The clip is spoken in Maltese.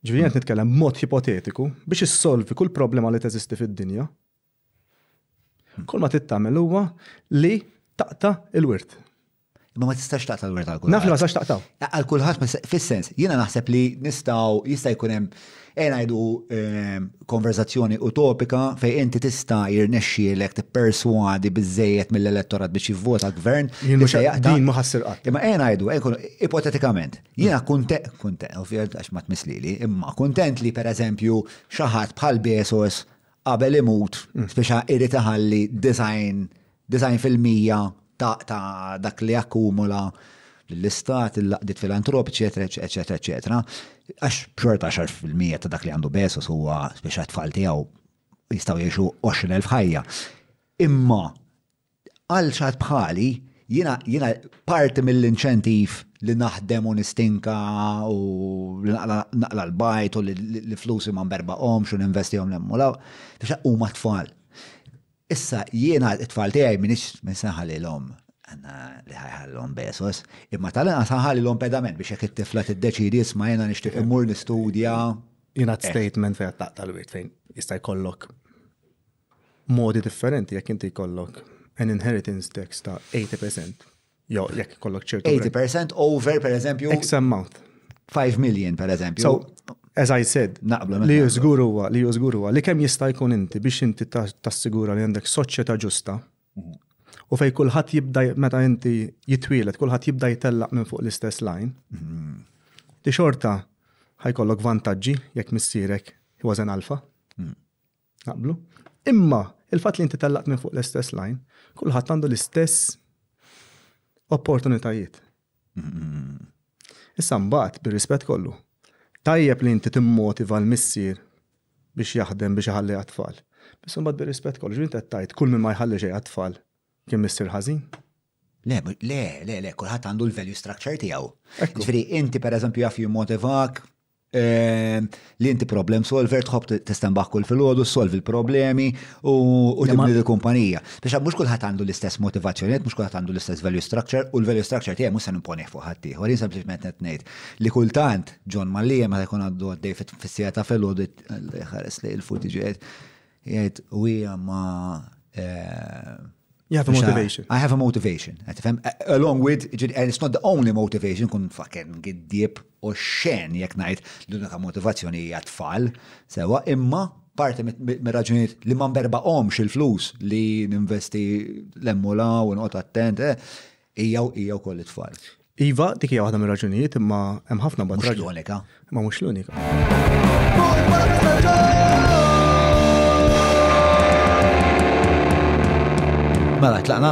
Ġifieri qed nitkellem b'mod ipotetiku biex issolvi kull problema li teżisti fid-dinja. Kull ma tittamel huwa li taqta' il-wirt. Ma ma tistax taqta' l-wirt għal kulħadd. Naf li ma tistax taqta'. Għal kulħadd fis-sens, jiena naħseb li nistgħu jista' jkun hemm ejja ngħidu ehm, konverzazzjoni utopika fejn inti tista' jirnexxielek tipperswadi biżejjed mill-elettorat biex jivvota gvern. Din ma ħassir qatt. Imma ejja ngħidu, ipotetikament, Jiena kuntent, kuntent, ovvjament għax ma tmislili, imma kuntent li per eżempju xaħat bħal Bezos qabel imut mm. speċa irrid iħalli design, design fil-mija ta', ta dak li akkumula l-istat, il-laqdiet filantropiċi, eċetera, eċetera, Għax xorta xar fil-mija ta' dak li għandu Bezos huwa speċa tfal tiegħu jistgħu jgħixu 20,000 ħajja. Imma Għal xi ħadd bħali, jiena jiena parti mill-inċentiv li naħdem u nistinka u li naqla' l-bajt u li flusi ma nberbaqhomx u ninvestihom hemm u 'l hawn, tinsab huma t-tfal. Issa jiena t-tfal tiegħi m'iniex se nħallilhom li ħa jħallihom Bezos, imma tal-inqas ħa nħallilhom pedament biex jekk it-tifla tiddeċiedi isma' jiena nixtieq immur nistudja. Jingħad statement fejn qed taqta' l-wirt fejn jista' jkollok Modi differenti jekk inti jkollok an inheritance tax ta' 80% jew jekk jkollok ċertu. 80% over per eżempju. X amount. 5 million per eżempju. So, as I said, naqblu li jużgur huwa li jużgur huwa li kemm jista' jkun inti biex inti tassigura li għandek soċjetà ġusta mhm. u fej kulħadd jibda meta inti jitwielet kulħadd jibda jtellaq minn fuq l-istess line. Mhm. Ti xorta ħajkollok vantaġġi jekk missierek was an alfa. Mhm. Naqblu. Imma il-fatt li inti tellaqt minn fuq l-istess lajn, kulħadd għandu l-istess opportunitajiet. Issa mbagħad bir-rispett kollu. Tajjeb li inti timmotiva l-missier biex jaħdem biex iħalli għat-tfal. Issa mbagħad bir-rispett kollu, ġifieri inti qed tgħid kull min ma jħalli xejn għat-tfal kien missier ħażin. Le, le, le, le, kulħadd għandu l-value structure tiegħu. Ġifieri inti pereżempju jaf jimmotivak ehm, li inti problem solver tħobb tistembaħ kull filgħodu, solvi l-problemi u tibni l-kumpanija. Biex mhux kulħadd għandu l-istess motivazzjonijiet, mhux kulħadd għandu l-istess value structure u l-value structure tiegħi mhux se nimponih fuq ħadd ieħor. Jien sempliċement qed ngħid li kultant John Mallia meta jkun għandu għaddej fis-sija ta' filgħodu ħares li l-futiġiet Jgħid u hija ma You have a motivation. I have a motivation. Along with, and it's not the only motivation, kun fucking giddib u xen jek najt l-unika motivazzjoni hija tfal, sewa imma parti me raġunijiet li ma berba omx il-flus li ninvesti l-emmula u nqot attent, eh, Hija u hija wkoll it-tfal. Iva, dik hija waħda mir-raġunijiet imma hemm ħafna bad raġuni. l-unika. Ma mhux l-unika. Mela, tlaqna?